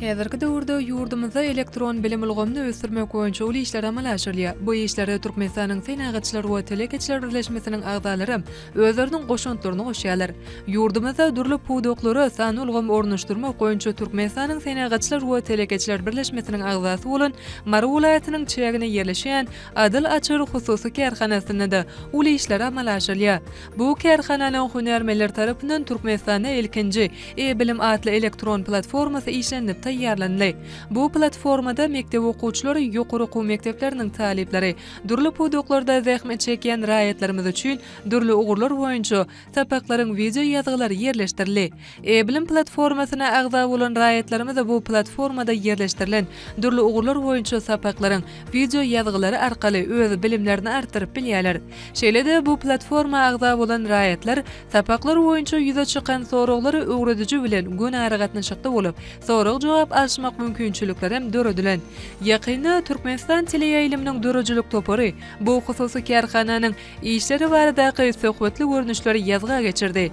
Häzirki döwürde ýurdumyzda elektron bilim ulgamyny ösdürmek boýunça uly işler amala aşyrylýar. Bu işlere Türkmenistanyň Senagatçylar we telekeçiler birleşmesiniň agzalaram özleriniň goşantlaryny goşýarlar. Ýurdumyzda dürli pudaklara sanly ulgam ornaşdyrmak boýunça Türkmenistanyň Senagatçylar we telekeçiler birleşmesiniň agzasy bolan Mary welaýatynyň çägine ýerleşýän Adyl açar hususy kärhanasynda-da uly işler amala aşyrylýar. Bu kärhananyň hünärmenleri tarapyndan Türkmenistanda ilkinji E-bilim atly elektron platformasy işlenilip taýýarlandy. Bu platformada mekdep okuwçylary, ýokary okuw mekdepleriniň talyplary, dürli pudaklarda zähmet çekýän raýatlarymyz üçin dürli ugurlar boýunça sapaklaryň wideoýazgylary ýerleşdirildi. E-bilim platformasyna agza bolan raýatlarymyza bu platformada ýerleşdirilen dürli ugurlar boýunça sapaklaryň wideo ýazgylary arkaly öz bilimlerini artdyryp bilýärler. Şeýle-de, bu platforma agza bolan raýatlar sapaklar boýunça ýüze çykan soraglary öwrediji bilen göni aragatnaşykda bolup, sorag-jogap alşmak mümkinçilikleri hem döredilen. Ýakynda Türkmenistan teleýaýlymynyň döredijilik topary bu hususy kärhananyň işleri baradaky söhbetli görnüşleri ýazga geçirdi.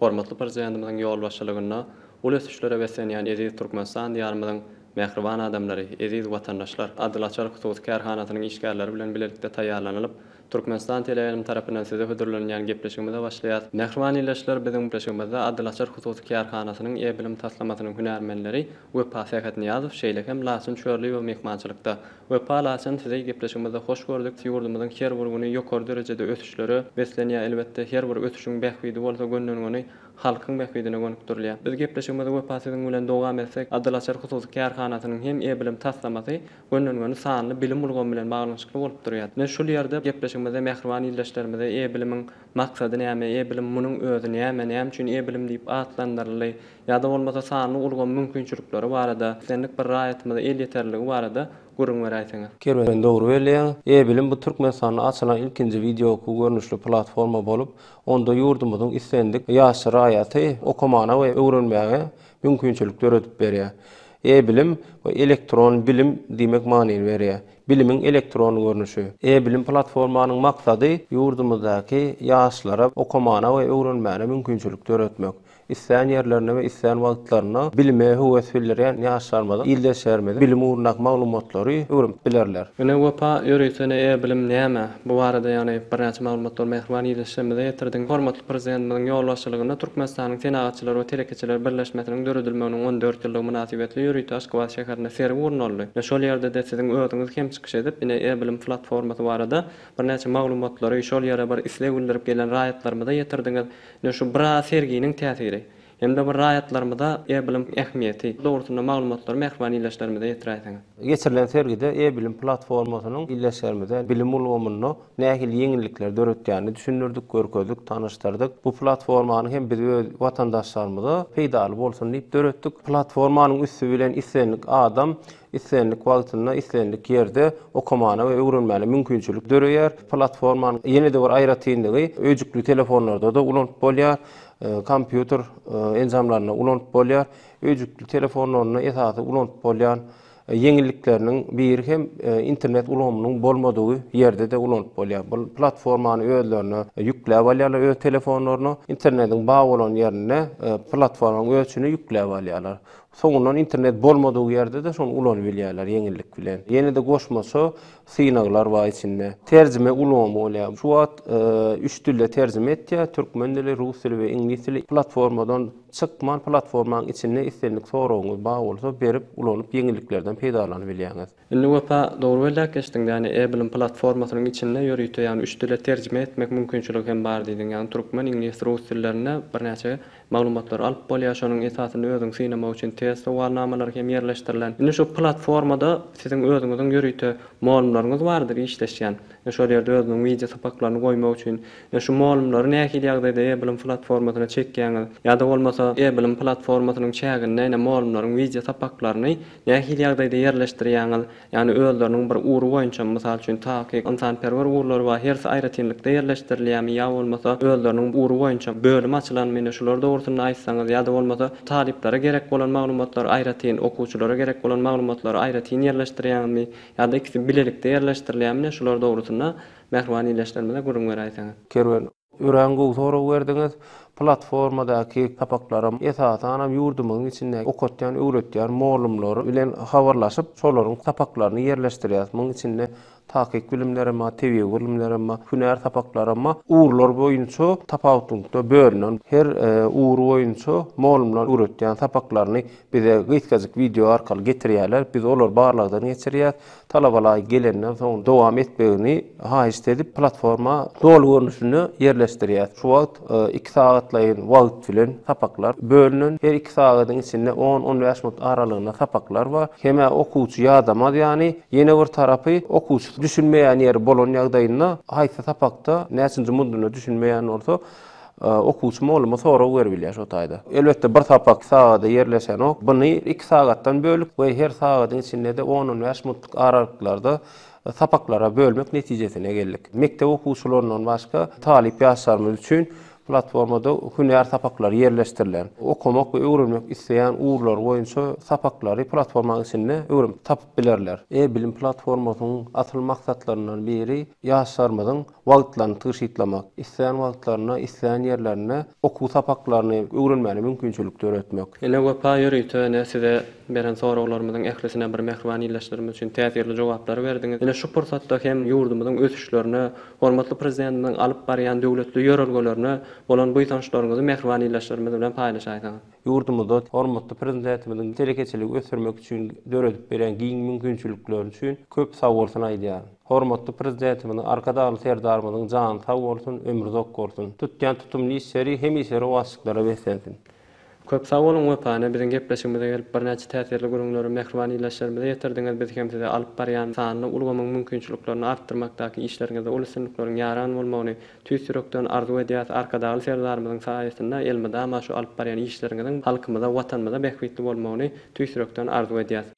Hormatly Prezidentimiziň ýolbaşçylygynda uly ösüşlere beslenýän eziz Türkmenistan Diýarymyzyň mähriban adamlary, eziz watandaşlar! Adyl açar hususy kärhanasynyň işgärleri bilen bilelikde taýýarlanylyp, Türkmenistan teleýaýlym tarapyndan size hödürlenilýän gepleşigimize başlaýas. Mähriban ildeşler, biziň gepleşigimizde Adyl açar hususy kärhanasynyň E-bilim taslamasynyň hünärmenleri Wepa Sähetnyýazow, şeýle hem Laçyn Çörliýewa myhmançylykda. Wepa Laçyn sizi gepleşigimizde hoş gördük, ýurdumyzyň her bir güni ýokary derejede ösüşlere beslenýär, elbetde her bir ösüşiň bähbidi bolsa gönüden-göni halkyň bähbidine gönükdirilýär. Biz gepleşigimizi Wepa siziň bilen dowam etsek, Adylaçar hususy kärhanasynyň hem e bilim taslamasy gönüden-göni sanly bilim ulgamy bilen baglanyşykly bolup durýar. Ine şul ýerde gepleşigimizde mähriban ildeşlerimize e bilimiň maksady näme, e bilim munuň özi näme, näme üçin e bilim diýip atlandyryldy, ýa-da bolmasa sanly ulgam mümkinçilikleri barada, islendik bir raýatymyza elýeterliligi barada gürrüň beräýseňiz. Kerwen dogry belleýäň. E-bilim bu Türkmenistanda açylan ilkinji wideookuw görnüşli platforma bolup, onda ýurdumyzyň islendik ýaşly raýaty okamana we öwrenmäge mümkinçilik döredip berýär. E-bilim, bu elektron bilim diýmek manyny berýär. Bilimiň elektron görnüşi. E-bilim platformanyň maksady ýurdumyzdaky ýaşlara okamana we öwrenmäne mümkinçilik döretmek. Islän ýerlerinde we islän wagtlarynda bilime höwes bildirýän ýaşlarymyzyň, ildeşlerimiziň bilim ugrundaky maglumatlary öwrenip bilerler. Ine Wepa, ýöritene e-bilim näme? Bu barada ýagny birnäçe maglumatlary mähriban ildeşlerimize ýetirdiň. Hormatly Prezidentimiziň ýolbaşçylygynda Türkmenistanyň Senagatçylar we telekeçiler birleşmesiniň döredilmeginiň on dört ýyllygy mynasybetli ýörite Aşgabat şäherinde sergi gurnaldy. Ine şol ýerde-de siziň özüňiz hem çykyş edip, ine e-bilim platformasy barada birnäçe maglumatlary şol ýere bir isleg bildirip gelen raýatlarymyza ýetirdiňiz. Ine şu bira serginiň täsiri hem-de bir raýatlarymyza e-bilim ähmiýeti dogrusynda maglumatlary mähriban ildeşlerimize ýetiräýseňiz. Geçirilen sergide e-bilim platformasynyň ildeşlerimize bilim ulgamynda nähili ýeňillikleri döretýänini düşündirdik, görkezdik, tanyşdyrdyk. Bu platformany hem biz öz watandaşlarymyza peýdaly bolsun diýip döretdik. Platformanyň üsti bilen islendik adam Islendik wagtynda, islendik ýerde okamana we öwrenmäne mümkinçilik döreýär. Platformanyň ýene-de bir aýratynlygy, öýjükli telefonlarda-da ulanyp bolýar, kompýuter enjamlarynda ulanyp bolýar. Öýjükli telefonlarynda esasy ulanyp bolýan ýeňillikleriniň biri hem internet ulgamynyň bolmadygy ýerde-de ulanyp bolýar. Bu platformany özlerine ýükläp alýarlar öz telefonlaryna. Internetiň bar bolan ýerinde platformanyň özçüni ýükläp alýarlar. Soňundan internet bolmadygy ýerde-de şony ulanyp bilýärler ýeňillik bilen. Ýene-de goşmaça synaglar bar içinde. Terjime ulgamy bolýar. Şu wagt üç dilde terjime etýär, türkmen dili, rus dili we iňlis dili. Platformadan çykman, platformanyň içinde islendik soragyňyz bar bolsa berip, ulanyp ýeňilliklerden peýdalanyp bilýäňiz. Indi Wepa dogry belläp geçdiň ýani Apple-iň platformasynyň içinde ýörite ýagny üç dile terjime etmek mümkinçiligi hem bar diýdiň ýagny türkmen, iňlis, rus dillerinde birnäçe maglumatlary alyp bolýar şonuň esasynda özüňi synamak üçin test sowalnamalary hem ýerleşdirilen. Indi şu platformada siziň özüňiziň ýörite molumlaryňyz bardyr işleşýän we şol ýerde özüniň wideo sapaklaryny goýmak üçin ýa şu molumlary nähili ýagdaýda Apple-iň platformasyna çekýäňiz ýa-da bolmasa Apple-iň platformasynyň çäginde ine molumlaryň wideo sapaklaryny Nähili ýagdaýda ýerleşdirýäňiz? Ýagny özleriniň bir ugry boýunçamy, mysal üçin, takyk, ynsanperwer ugurlary bar, hersi aýratynlykda ýerleşdirilýärmi ýa bolmasa özleriniň ugry boýunça bölüm açylanmy, ine şular dogrusynda aýtsaňyz ýa-da bolmasa talyplara gerek bolan maglumatlary aýratyn, okuwçylara gerek bolan maglumatlary aýratyn ýerleşdirýäňizmi ýa-da ikisi bilelikde ýerleşdirilýärmi, ine şular dogrusynda mähriban ildeşlerimize gürrüň beräýseňiz. Kerwen, Örän gowy sorag berdiňiz. Platformadaky sapaklaram esasanam ýurdumyzyň içindäki okatýan, öwretýän mollumlar bilen habarlaşyp, şolaryň sapaklaryny ýerleşdirýäs. Munuň içinde takyk bilimler hem bar, tebigy bilimler hem bar, hünär sapaklary hem bar. Ugurlar boýunça tapawutlylykda bölünen, her ugur boýunça mollumlar öwretýän sapaklaryny bize gysgajyk wideo arkaly getirýärler, biz olary barlagdan geçirýäs. Talabalaý gelenden soň dowam etmegini haýyşt edip, platforma doly görnüşinde ýerleşdirýäs. Şu wagt iki sagatlaýyn wagt bilen sapaklar bölünen. Her iki sagadyň içinde on-on bäş minut aralygynda sapaklar bar. Hem-ä okuwçy ýadamaz ýany. Ýene bir tarapy, okuwçy düşünmeýän ýeri bolan ýagdaýynda, haýsy sapakda, näçinji mundunda düşünmeýän bolsa, Okuwçy mugallymyna sorag berip bilýär şu taýda. Elbetde bir sapak sagada ýerleşenok. Buny iki sagatdan bölüp we her sagadyň içinde-de on-on bäş minutlyk aralyklarda sapaklara bölmek netijesine geldik. Mekdep okuwçylaryndan başga talyp ýaşlarymyz üçin platformada hünär sapaklary ýerleşdirilen. Okamak we öwrenmek isleýän ugurlary boýunça sapaklary platformanyň içinde öwrenip tapyp bilerler. E-bilim platformasynyň asyl maksatlaryndan biri ýaşlarymyzyň wagtlaryny tygşytlamak, islän wagtlarynda, islän ýerlerinde okuw sapaklaryny öwrenmäne mümkinçilik döretmek. Ene Wepa ýörite ene size beren soraglarymyzyň ählisine bir mähriban ildeşlerimiz üçin täsirli jogaplary berdiňiz. Ene şu pursatda hem ýurdumyzyň ösüşlerine, hormatly Prezidentimiziň alyp barýan döwletli ýörelgelerine bolan buýsançlaryňyzy mähriban ildeşlerimiz bilen paýlaşaýsaňyz. Ýurdumyzda hormatly Prezidentimiziň telekeçiligi ösdürmek üçin döredip berýän giň mümkinçilikleri üçin köp sagbolsun aýdýaryn. Hormatly Prezidentimiziň, Arkadagly Serdarymyzyň jany sag bolsun, ömri uzak bolsun. Tutýan tutumly işleri hemişe rowaçlyklara beslensin. Köp sag boluň Wepana biziň gepleşigimize gelip birnäçe täsirli gürrüňleri mähriban ildeşlerimize ýetirdiňiz biz hem size alyp barýan sanly ulgamyň mümkinçiliklerini artdyrmakdaky işleriňizde uly üstünlikleriň ýaran bolmagyny tüýs ýürekden arzuw edýäs Arkadagly Serdarymyzyň saýasynda elmydama şu alyp barýan işleriňiziň halkymyza watanymyza bähbitli bolmagyny tüýs ýürekden arzuw edýäs.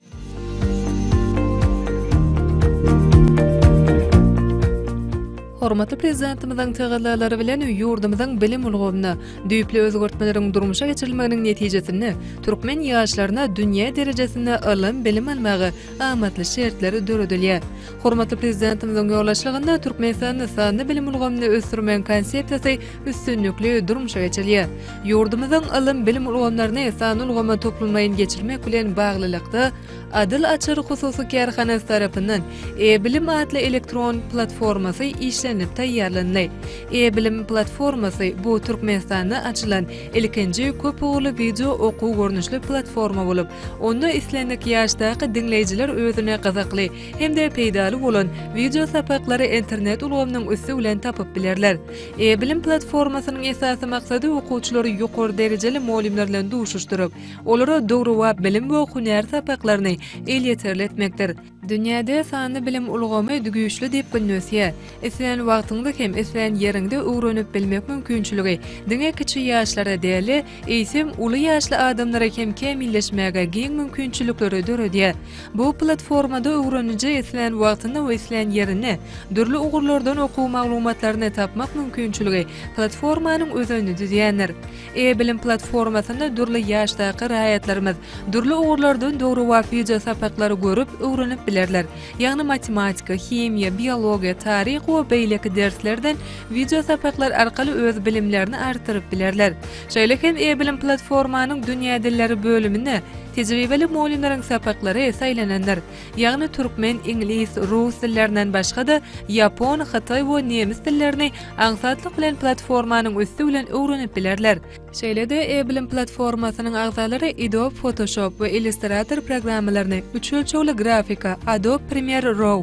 Hormatly Prezidentimiziň tagallalary bilen ýurdumyzyň bilim ulgamyna düýpli özgertmeleriň durmuşa geçirilmeginiň netijesinde türkmen ýaşlaryna dünýä derejesinde ylym-bilim almaga amatly şertler döredilýär. Hormatly Prezidentimiziň ýolbaşçylygynda Türkmenistanda sanly bilim ulgamyny ösdürmegiň Konsepsiýasy üstünlikli durmuşa geçirilýär. Ýurdumyzyň ylym-bilim ulgamlaryny sanly ulgama toplumlaýyn geçirmek bilen baglylykda, Adyl açar hususy kärhanasy tarapyndan E-bilim atly elektron platformasy işlenilip taýýarlandy. E-bilim platformasy, bu Türkmenistanda açylan ilkinji köp ugurly wideo okuw görnüşli platforma bolup, onda islendik ýaşdaky diňleýjiler özüne gyzykly, hem-de peýdaly bolan wideo sapaklary internet ulgamynyň üsti bilen tapyp bilerler. E-bilim platformasynyň esasy maksady okuwçylary ýokary derejeli mugallymlar bilen duşuşdyryp, olara döwrebap bilim we hünär sapaklaryny elýeterli etmekdir. Dünýäde sanly bilim ulgamy güýçli depginde ösýär. Islän wagtyňda hem islän ýeriňde öwrenip bilmek mümkinçiligi diňe kiçi ýaşlara däl-de, eýsem, uly ýaşly adamlara hem kämilleşmäge giň mümkinçilikleri döredýär. Bu platformada öwreniji islän wagtyny we islän ýerinde dürli ugurlardan okuw maglumatlaryny tapmak mümkinçiligi platformanyň özenini düzýändir. E-bilim platformasynda dürli ýaşdaky raýatlarymyz dürli ugurlardan döwrebap wideosapaklary görüp, öwrenip bilerler. Ýagny matematika, himiýa, biologiýa, taryh we beýleki derslerden wideo sapaklar arkaly öz bilimlerini artdyryp bilerler. Şeýle hem e-bilim platformanyň dünýä dilleri bölüminde tejribeli mugallymlaryň sapaklary saýlanandyr. Ýagny türkmen, iňlis, rus dillerinden başga-da, ýapon, hytaý we nemes dillerini aňsatlyk bilen platformanyň üsti bilen öwrenip bilerler. Şeýle-de e-bilim platformasynyň agzalary Adobe Photoshop we Illustrator programmalaryny, üç ölçegli grafika, Adobe Premiere Raw,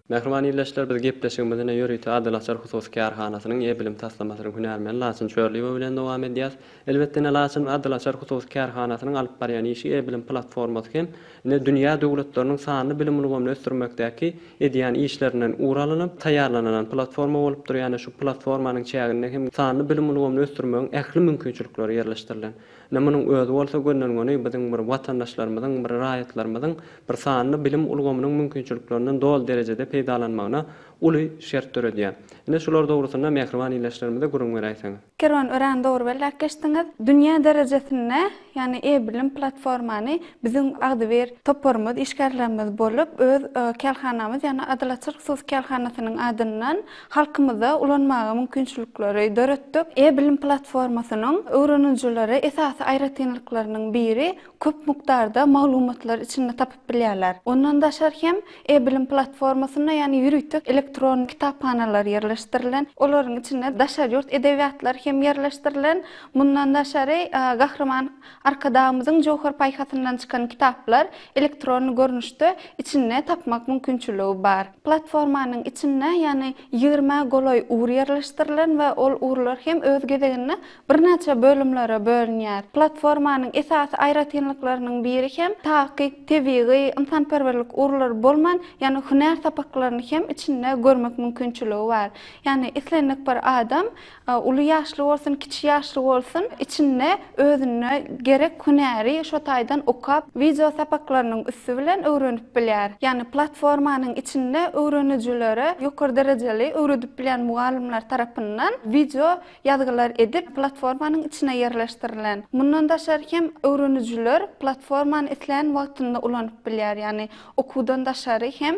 Mähriban ildeşler biz gepleşigimizi ine ýörite Adyl açar hususy kärhanasynyň e-bilim taslamasynyň hünärmeni Laçyn Çörliýewa bilen dowam edýäs. Elbetde ine Laçyn Adyl açar hususy kärhanasynyň alyp barýan işi e-bilim platformasy hem ine dünýä döwletleriniň sanly bilim ulgamyny ösdürmekdäki edýän işlerinden ugur alynp taýýarlanylan platforma bolupdyr ýa-ni şu platformanyň çäginde hem sanly bilim ulgamyny ösdürmegiň ähli mümkinçilikleri ýerleşdirilen. Ine munuň özi bolsa gönden-göni biziň bir watandaşlarymyzyň, bir raýatlarymyzyň bir sanly bilim ulgamynyň mümkinçiliklerinden doly derejede peýdalanmagyna uly şert döredýär. Ine şular dogrusynda mähriban ildeşlerimize gürrüň beräýseňiz. Kerwen örän dogry belläp geçdiňiz. Dünýä derejesinde ýagny e-bilim platformany biziň agzybir toparymyz, işgärlerimiz bolup öz kärhanamyz ýagny Adalatçylyk hususy kärhanasynyň adyndan Halkymyzda ulanmaga mümkinçilikleri döretdik. E-bilim platformasynyň öwrenijilere esasy aýratynlyklarynyň biri, köp mukdarda maglumatlary içinde tapyp bilýärler. Ondan daşary hem, e-bilim platformasynda ýany ýörite elektron kitaphanalar ýerleşdirilen. Olaryň içinde daşary ýurt edebiýatlary hem ýerleşdirilen. Mundan daşary, Gahryman Arkadagymyzyň jöwher paýhasyndan çykan kitaplar elektron görnüşde içinde tapmak mümkinçiligi bar. Platformanyň içinde ýany ýigrimä golaý ur ýerleşdirilen we ol urlar hem öz gezeginde birnäçe bölümlere bölünýär. Platformanyň esasy aýratynlyklarynyň biri hem takyk, tebigy, ynsanperwerlik urlary bolman, ýany hünär sapaklaryny hem içinde görmek mümkinçiligi bar. Ýany islendik bir adam Uly ýaşly bolsun, kiçi ýaşly bolsun, içinde özüne gerek hünäri şo taýdan okap, wideo sapaklarynyň üsti bilen öwrenip bilýär. Ýagny platformanyň içinde öwrenijilere ýokary derejeli öwredip bilýän mugallymlar tarapyndan wideo ýazgylar edip, platformanyň içine ýerleşdirilen. Mundan daşary hem öwrenijiler platformany islän wagtynda ulanyp bilýär, ýagny okuwdan daşary hem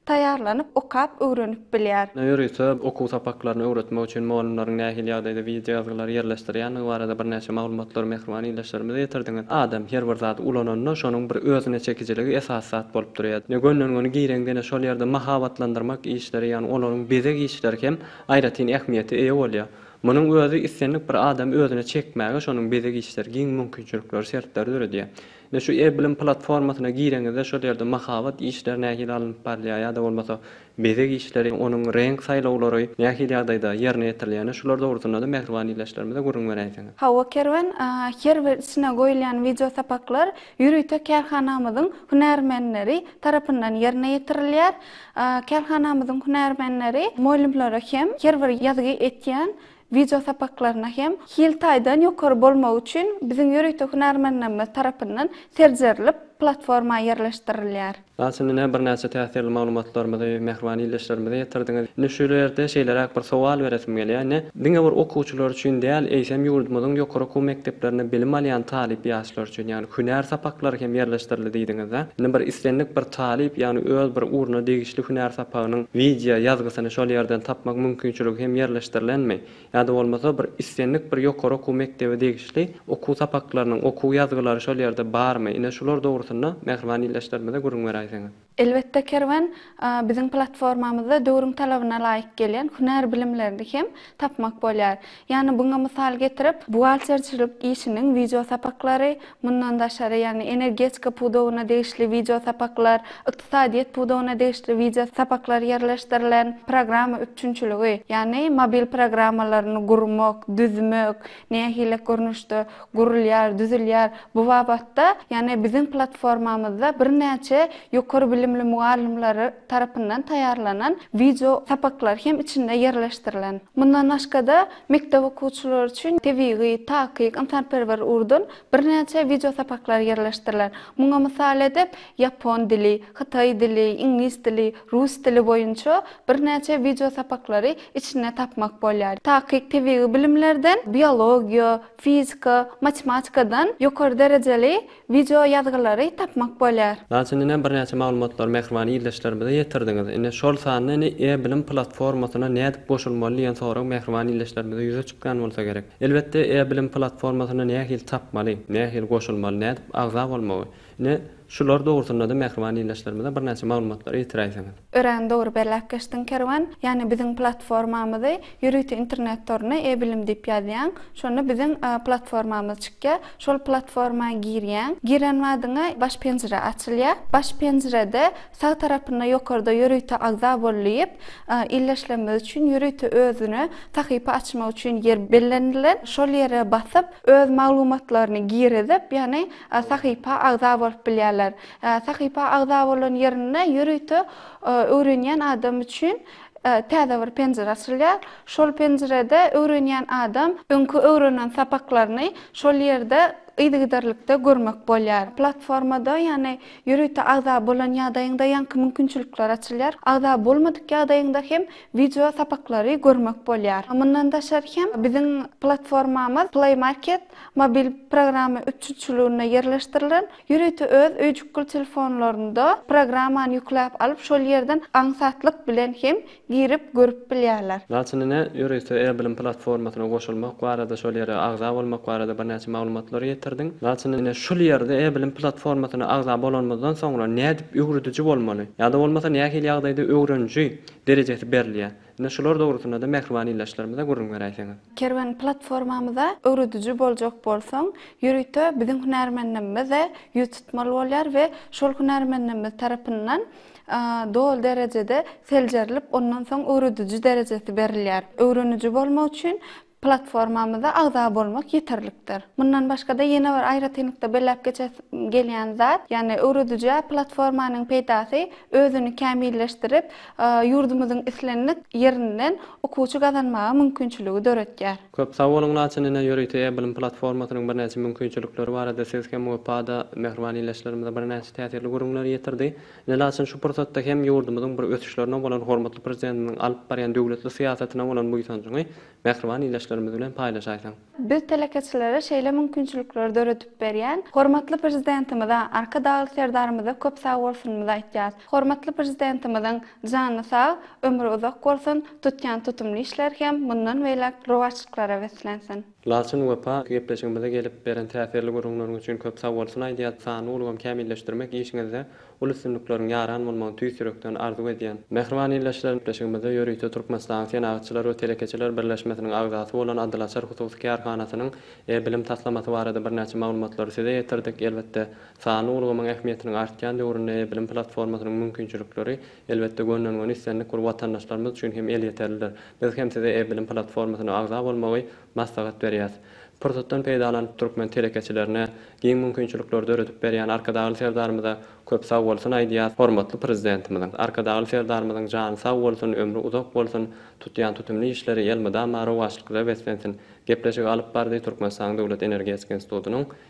taýýarlanyp okap öwrenip bilýär. Ýörite okuw sapaklaryny öwretmek üçin mugallymlaryň nähili ýagdaýda wideo ýazgylary ýerleşdirýändigi barada birnäçe maglumatlary mähriban ildeşlerimize ýetirdiňiz. Adam her bir zady ulananda şonuň bir özüne çekijiligi esasy zat bolup durýar. Ine gönlenigini gireňden şol ýerde mahabatlandyrmak işleri ýagny olaryň bezeg işleri hem aýratyn ähmiýete eýe bolýar. Munuň özi islendik bir adamy özüne çekmäge şonuň bezeg işleri giň mümkinçilikleri, şertleri döredýär. Ine şu e-bilim platformasyna gireňizde şol ýerde mahabat işleri nähili alnyp barylýar ýa-da bolmasa bezeg işleri, onuň reňk saýlawlary nähili ýagdaýda ýerine ýetirilýär, şular dogrusynda-da mähriban ildeşlerimize gürrüň beräýseňiz. Hawa Kerwen, her bir içine goýulýan wideo sapaklar ýörite kärhanamyzyň hünärmenleri tarapyndan ýerine ýetirilýär. Kärhanamyzyň hünärmenleri mugallymlara hem her bir ýazgy etýän Wideo sapaklaryna hem hil taýdan ýokary bolmagy üçin biziň ýörite hünärmenlerimiz tarapyndan seljerilip, platforma ýerleşdirilýär. Ýa siz ine birnäçe täsirli maglumatlarymyzy, mähriban ildeşlerimize ýetirdiňiz. Ine şu ýerde şeýleräk bir sowal beresim gelýär. Ine, diňe bir okuwçylar üçin däl, eýsem ýurdumyzyň ýokary okuw mekdeplerinde bilim alýan talyp ýaşlar üçin, ýagny Hünär sapaklary hem ýerleşdirildi diýdiňiz-dä. Indi bir islendik bir talyp, ýagny öz bir ugruna degişli hünär sapagynyň wideo ýazgysyny şol ýerden tapmak mümkinçiligi hem ýerleşdirilenmi? Ýa-da bolmasa bir islendik bir ýokary okuw mekdebe degişli okuw sapaklarynyň okuw ýazgylary şol ýerde barmy? Ine şular dogrusynda mähriban ildeşlerimize gürrüň beräýseňiz. Elbetde Kerwen biziň platformamyzda döwrüň talabyna laýyk gelýän hünär bilimlerini hem tapmak bolýar. Ýagny buňa mysal getirip, buhgalterçilik işiniň wideo sapaklary, mundan daşary ýagny energetika pudagyna degişli wideo sapaklar, ykdysadyýet pudagyna degişli wideo sapaklar ýerleşdirilen, programma üpjünçiligi, ýagny mobil programmalaryny gurmak, düzmek, nähili görnüşde gurulýar, düzülýär, bu babatda, ýagny biziň platformamyzda birnäçe ýokary bilimli mugallymlar tarapyndan taýýarlanan wideo sapaklar hem içinde ýerleşdirilen. Mundan başga-da, mekdep okuwçylary üçin tebigy, takyk, ynsanperwer ugurdan birnäçe wideo sapaklar ýerleşdirilen. Muňa mysal edip, ýapon dili, hytaý dili, iňlis dili, Rus dili boýunça birnäçe wideosapaklary içinde tapmak bolýar. Takyk tebigy bilimlerden, biologiýa, fizika, matematikadan ýokary derejeli wideo ýazgylary tapmak bolýar. Mysal üçin, ine, birnäçe maglumatlary mähriban ildeşlerimize ýetirdiňiz. Ine, şol sanda, ine, e-bilim platformasyna nädip goşulmaly diýen sorag mähriban ildeşlerimize ýüze çykýan bolsa gerek. Elbetde, e-bilim platformasyna nähili tapmaly, nähili goşulmaly, nädip agza bolmagy, Ine, şular dogrusynda-da mähriban ildeşlerimize birnäçe maglumatlary ýetiräýseňiz. Örän dogry belläp geçdiň Kerwen, ýagny biziň platformamyzy ýörite internet toruna E-bilim diýip ýazýaň, şonda biziň platformamyz çykýar, şol platforma girýäň, giren badyňa baş penjire açylýar, baş penjirede sag tarapynda ýokarda ýörite agza bol diýip, ildeşlerimiz üçin ýörite özüne sahypa açmak üçin ýer bellenilen, şol ýere basyp öz maglumatlaryny girizip, ýagny Sahypa agza bolup bilýärler. Sahypa agza bolan ýerinde ýörite öwrenýän adam üçin täze bir penjire açylýar. Şol penjirede öwrenýän adam öňki öwrenen sapaklaryny şol ýerde yzygiderlikde görmek bolýar. Platformada, ýagny ýörite agza bolan ýagdaýyňda ýaňky mümkinçilikler açylýar. Agza bolmadyk ýagdaýyňda hem wideo sapaklary görmek bolýar. Mundan daşary hem biziň platformamyz Play Market Mobil programma üpjünçiliginde ýerleşdirilen ýörite öz öýjükgül telefonlarynda programmany ýükläp alyp, şol ýerden aňsatlyk bilen hem girip görüp bilýärler. Mysal üçin, ine, ýörite e-bilim platformasyna goşulmak barada, şol ýere agza bolmak barada birnäçe maglumatlary ýetirdiň. Mysal üçin, ine, şul ýerde e-bilim platformasyna agza bolanymyzdan soňra nädip öwrediji bolmaly ýa-da bolmasa nähili ýagdaýda öwreniji derejesi berilýär? Ine, şular dogrusynda-da mähriban ildeşlerimize gürrüň beräýseňiz. Kerwen platformamyza öwrediji boljak bolsaň, ýörite biziň hünärmenligimize ýüz tutmaly bolýar we şol hünärmenligimiz tarapyndan doly derejede seljerilip, ondan soň öwrediji derejesi berilýär. Öwreniji bolmak üçin Platformamyza agza bolmak ýeterlikdir. Mundan başga-da ýene bir aýratynlykda belläp geçesim gelýän zat, ýagny öwredijä platformanyň peýdasy özüni kämilleşdirip, ýurdumyzyň islendik ýerinden okuwçy gazanmaga mümkinçiligi döretýär. Köp sag boluň Laçyn ine ýörite e-bilim platformasynyň birnäçe mümkinçilikleri barada siz hem wepa-da mähriban ildeşlerimize birnäçe täsirli gürrüňleri ýetirdi. Nelaçyn şu pursatda hem ýurdumyzyň bir ösüşlerine bolan hormatly Prezidentimiziň alyp barýan döwletli syýasatyna bolan buýsanjyňy mähriban ildeşlerimiz bilen paýlaşaýsaň? Biz telekeçilere şeýle mümkinçilikleri döredip berýän hormatly Prezidentimize, Arkadagly Serdarymyza köp sag bolsunymyzy aýtýas. Hormatly Prezidentimiziň jany sag, ömri uzak bolsun, tutýan tutumly işleri hem mundan beýläk rowaçlyklara beslensin! Laçyn Wepa gepleşigimize gelip, beren täsirli gürrüňleriňiz üçin köp sagbolsun aýdýas. Sanly ulgamy kämilleşdirmek işiňizde uly üstünlikleriň ýaran bolmagyny tüýs ýürekden arzuw edýän. Mähriban ildeşler, gepleşigimizde ýörite Türkmenistanyň Senagatçylar we telekeçiler birleşmesiniň agzasy bolan Adylaçar hususy kärhanasynyň e-bilim taslamasy barada birnäçe maglumatlary size ýetirdik. Elbetde, sanly ulgamyň ähmiýetiniň artýan döwründe e-bilim platformasynyň mümkinçilikleri Elbetde, gönden-göni islendik bir watandaşlarymyz üçin hem elýeterlidir. Biz hem size e-bilim platformasyna agza bolmagy maslahat berýäs. Pursatdan peýdalanyp türkmen telekeçilerine giň mümkinçilikler döredip berýän Arkadagly Serdarymyza köp sag bolsun aýdýas, hormatly Prezidentimiziň, Arkadagly Serdarymyzyň jany sag bolsun, ömri uzak bolsun, tutýan tutumly işleri elmydama rowaçlykda beslensin. Gepleşigi alyp bardy Türkmenistanyň Döwlet energetika institutynyň